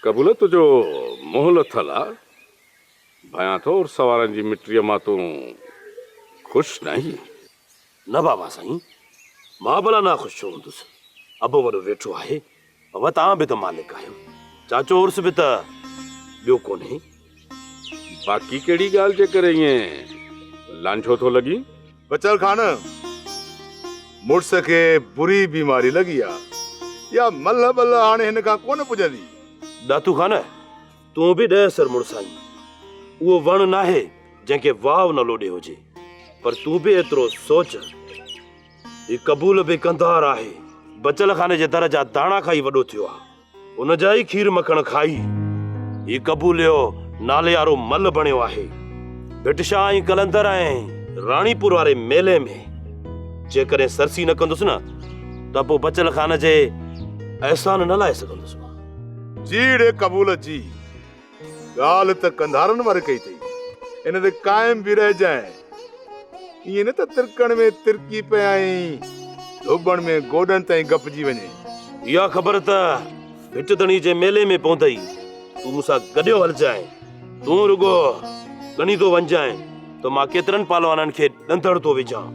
قبول تو جو منهن لٿل آ. ڀيان ٿو عرس وارن جي مٽيء مان تون خوش ناهين. نه بابا سائين مان ڀلا ناخوش ڇو هوندس. ابو وڏو ويٺو آهي. اوهان به ته مالڪ آهيو. چاچو عرس به ته ٻيو ڪونهي. باقي ڪهڙي ڳالهه جي ڪري ائين لانجهو ٿو لڳين؟ بچل خان، مڙس کي بري بيماري لڳي آ. اها ملهه ٻلهه هاڻي هن کان ڪونه پڄندي. ڏاتو خان، تون به ڏهه سر مڙس آهين. اهو وڻ ناهي جنهن کي واء نه لوڏي هجي. پر تون به ايترو سوچ. هي قبول به ڪنڌار آهي. بچل خان جي در جا داڻا کائي وڏو ٿيو آ. ان جا ئي کير مکڻ کائي هي قبوليو ناليارو مل بڻيو آهي. ڀٽ شاهه ۽ قلندر ۽ راڻيپور واري ميلي ۾ جيڪڏهن سرسي نه ڪندس نه ته پوء بچل خان جي احسان نه لائي سگهندس مان. جيئڙي قبول جي. ڳالهه ته قنڌارن واري ڪئي اٿئي، ان تي قائم به رهجانء. ائين نه ته ترڪڻ ۾ ترڪي پئي ۽ ڌوٻڻ ۾ گوڏن تائين گپجي وڃين. اها خبر ته ڀٽ ڌڻي جي ميلي ۾ پوندئي. تون مون سان گڏيو هلجانء. تون رڳو ڳڻيندو وڃجانء ته مان ڪيترن پهلوانن کي ڏندڙ ٿو وجهان.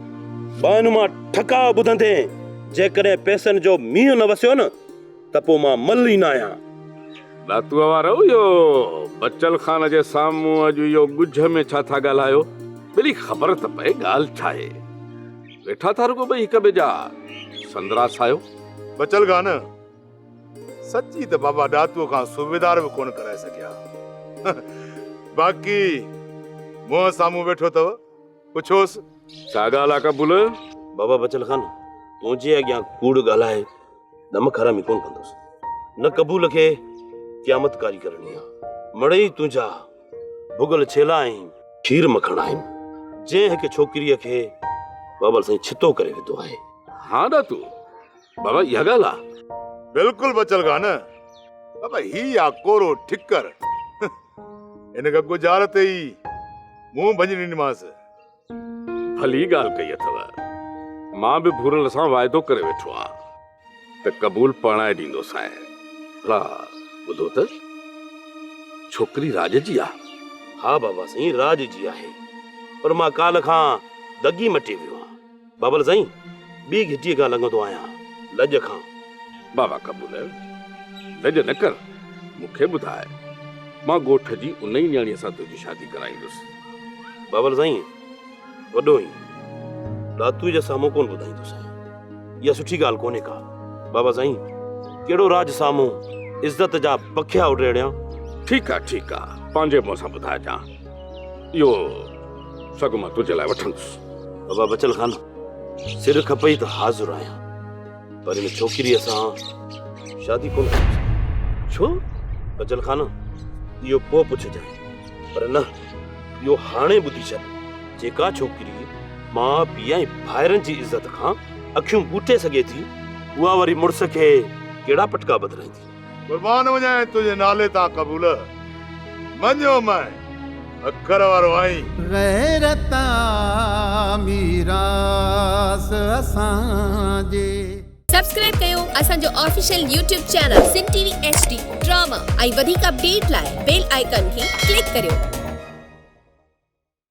ٻانهن مان ٺڪاء ٻڌندين، جيڪڏهن پئسن جو مينهن نه وسيو نه، ته پوء مان مل ئي ناهيان. ڏاتوء وارؤ اهو بچل خان جي سامهون اڄ اهو ڳجهه ۾ ڇا ٿا ڳالهايو؟ ڀلي خبر ته پئي ڳالهه ڇا آهي؟ ويٺا ٿا رڳو ٻئي هڪ ٻئي جا سندرا سايو. بچل خان، سچي ته بابا ڏاتوء کان صوبيدار به ڪونه ڪرائي سگهيا. باقي منهن سامهون ويٺو اٿو، پڇوس. ڇا ڳالهه آ قبول؟ بابا بچل خان منهنجي اڳيان ڪوڙ ڳالهائي نمڪ حرامي ڪونه ڪندس نه قبول کي قيامت ڪاري ڪرڻي آ مڙئي تنهنجا ڀڳل ڇيلا ۽ کير مکڻ آهن جنهن هڪ ڇوڪريء کي بابل سائين ڇتو ڪري وڌو آهي ها ڏاتو بابا اها ڳالهه آ بلڪل بچل گا نه بابا هي آ ڪورو ٺڪر ان کان گجار تي ئي منهن ڀڃي ڏنيمانس ڀلي ڳالهه ڪئي اٿو. مان به ڀورل سان واعدو ڪري ويٺو آهيان ته قبول پرڻائي ڏيندوسانء. ڀلا ٻڌو ته ڇوڪري راڄ جي آهي؟ ها بابا سائين، راڄ جي آهي، پر مان ڪالهه کان دڳي مٽي ويو آهيان. بابل سائين ٻي گهٽيء کان لنگهندو آهيان لڄ کان. بابا قبول لڄ نه ڪر مون کي ٻڌاء مان ڳوٺ جي انهي نياڻيء سان تنهنجي شادي ڪرائيندس. بابل سائين وڏو هين ڏاتوء جي سامهون ڪونه ٻڌائيندوسانء اها سٺي ڳالهه ڪونهي ڪا. بابا سائين ڪهڙو راڄ سامهون عزت جا بکيا اڊيڙيان. ٺيڪ آ ٺيڪ آ پنهنجي منهن سان ٻڌائجان اهو سڳ مان تنهنجي لاء وٺندس. بابا بچل خان سر کپئي ته حاضر آهيان پر ان ڇوڪري سان شادي ڪون ڇو بچل خان اهو پو پڇجان پر نه اهو هاڻي ٻڌي ڇڏ جيڪا ڇوڪري ماء پيء ۽ ڀائرن جي عزت کان اکيون ٻوٽي سگهي ٿي اها وري مڙس کي ڪهڙا پٽڪا بدلائيندي قربان وڃائين تنهنجي نالي تان قبول مڃيو مئين اکر وارو آئين. غيرت آ ميراث اسان جي. سبسڪرائب ڪيو اسان جو official YouTube channel Sindh T V H D drama ۽ وڌيڪ اپڊيٽ لاء بيل آئيڪان کي ڪلڪ ڪريو.